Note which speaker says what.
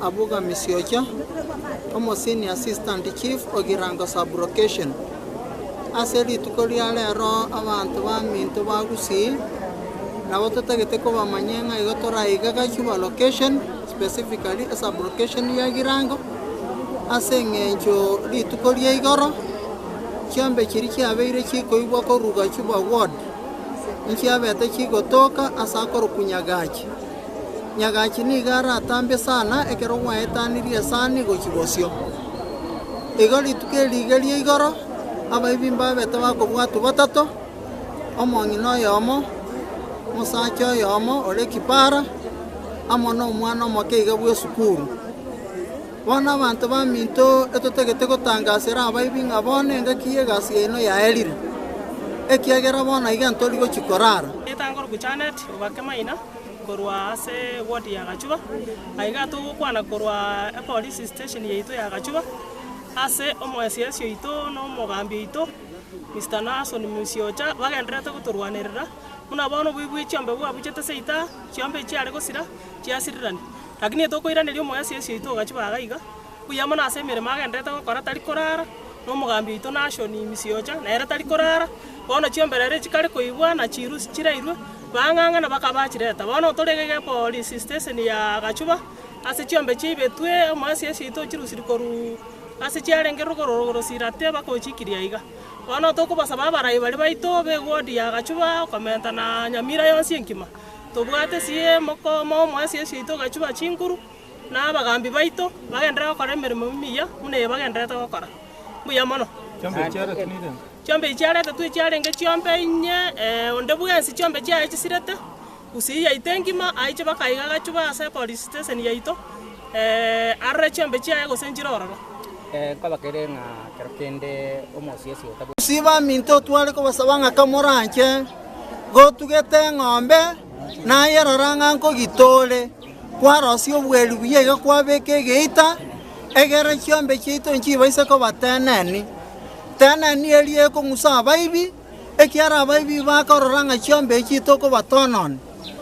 Speaker 1: Abuga Misiocha, omo Senior Assistant Chief Ogirango Sub-Location, Ase rituko ria rero abanto ba Minto ba Gusii nabo totagete kobamanya ng'a igo toraige Gachuba Location, specifically eSub-Location ya Ogirango, ase eng'encho rituko ria igoro chiombe chiria chiabeire chikoigwa korwa Gachuba Ward, inchiabete chigotoka ase akorokwa Nyagachi. nyagachi nigo aratambe sana ekero gwaetanirie esani gochia bosio. Igo rituko eri rigerie igoro, abaibi mbabete bakobwatwa batato, omong'ina oyomo, omosacha oyomo ore kipara, amo nomwana omoke iga bw'esukuru. Bono abanto baminto etotagete gotangasera abaibi ng'a bono engaki y'egasi yaino yaerire, ekiagera bono aiga ntori gochia korara.
Speaker 2: Bakemaina korwa ase ward ya Gachuba, na iga togokwana korwa epolice station yaito ya Gachuba ase omoesiesi oito na omogambi oito Mister Naasoni Musiocha bagendererete gotorwanerera buna bono oboibuyi chiombe bwabuchete ase ita chiombe echiare gosira chiasirirani, lakini tokoiraneria omoesiesi oito o Gachuba iga. Buya mono ase emeremo agendererete gokora tari korara, na omogambi oito Nashoni Misiocha nere tari korara. Bono chiomberero echi kare koigwa na chirusi chirairwe, baang'ang'ana bakaba achireta. Bono otorege egepolisi steseni ya Gachuba, ase chiombe chiaibetwe emoesiesi yaito ochirusiri korwa ase chiarenge rogoro rogoro sirate mpaka ochikirie aiga. Bono tokobasaba abarai baria baito be wodi ya Gachuba okomenta na Nyamira yonsi engima, tobwate sie mokoomoa omoesiesi oito Gachuba chinguru, na abagambi baito bagenderere gokora emeremo emiya buna eye bagendererete gokora. Mbuya mono. Chiombe echi chiarete twe chiarenge chiombe inye, ee, onde bwensi chiombe chiaye chisirete, gusii yaito engima aiche mpaka aiga agachubaa ase police station yaito, ee, arore chiombe chiaye gose nchire ororo. Nkoba kere
Speaker 3: ng'a kero kende omosiesi otabwenerete. Gusii baminto tware
Speaker 1: kobasaba ng'a kamoranche gotugete eng'ombe, naye rora ng'a nkogita ore. Kwarosia obweeri buya iga kwabeeka egeita, egere chiombe chiaito nchibaise koba teneni. Teneni eria ekong'usa abaibi, ekiagera abaibi bakorora ng'a chiombe echiaito nkobatononi.